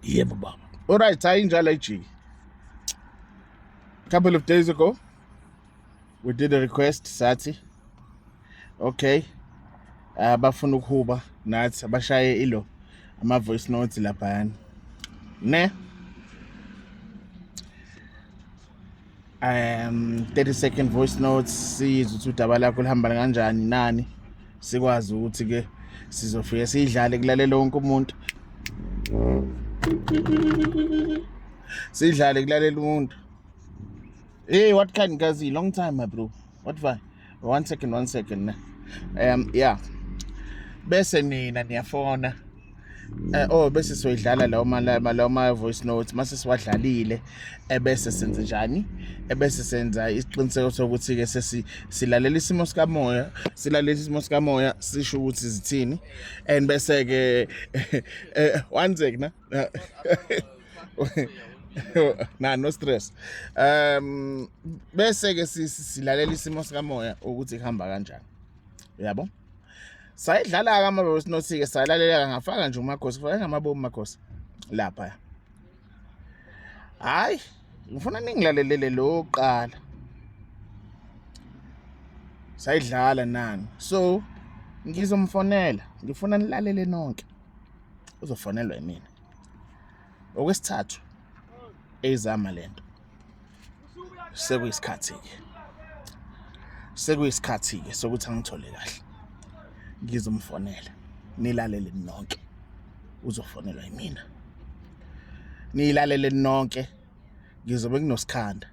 yebo baba alright hayi njalo ijiki couple of days ago we did a request sathi okay ah, abafuna uh, ukuhuba nathi abashaye ilo ama voice notes laphayana ne um 30 second voice notes sizwe ukuthi udaba lakho lihamba kanjani nani sikwazi ukuthi ke sizofike sidlale kulalela wonke umuntu sidlale kulalela umuntu hey what kind kazi long time my bro what va one second one second ne um yeah bese nina niyafona Eh oh bese soyidlala lawo malama lawo ma voice notes mase siwadlalile ebese senze njani ebese senza isiqiniseko sokuthi ke sesi silalela isimo sikamoya silalela isimo sikamoya sisho ukuthi zithini and bese ke eh, one second na no stress um bese ke silalela isimo sikamoya ukuthi kuhamba kanjani uyabo sayidlala ke amabobo sinothi ke salaleleka ngafaka nje umakhosi kufaka ngamabobo umakhosi lapha hayi ngifuna ningilalelele lo qala sayidlala nani so ngizomfonela ngifuna nilalele nonke uzofonelwa yimina okwesithathu eyizama lento sekuyisikhathi ke sekuyisikhathi ke sokuthi angithole kahle ngizomfonela nilalele nonke uzofonelwa yimina nilalele nonke ngizobe nginosikhanda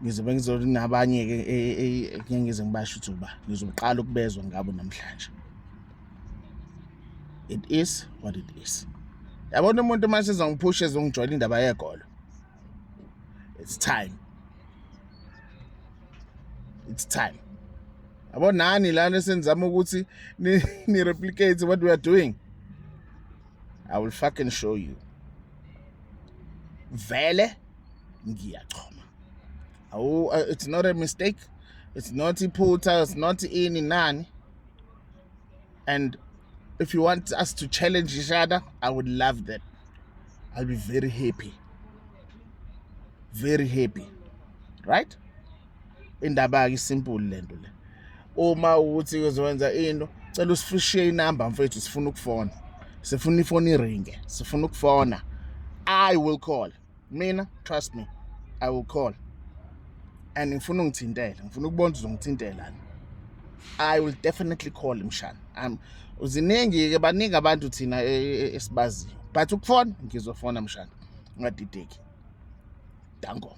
ngizobe ngizonabanye-ke e, e, e, ngeke ngize ngibasho ukuthi uba ngizoqala ukubezwa ngabo namhlanje it is what it is yabona umuntu uma sezongiphusha ezongijwayela indaba yegolo it's time it's time yabo nani lana senizama ukuthi ni-replicate what we are doing I will fucking show you vele ngiyachoma awu uh, it's not a mistake it's not iphutha it's not ini nani and if you want us to challenge each other i would love that i'll be very happy very happy right indaba-ke isimple le nto le uma ukuthi uzowenza into cela usifishiye inamba mfethu sifuna ukufona sifuna ifoni iringe sifuna ukufona i will call mina trust me i will call and ngifuna ungithintele ngifuna ukubona uzongithintelani i will definitely call mshana um uziningi-ke baningi abantu thina e, e, e, esibaziyo but ukufona ngizofona mshana ungadideki danko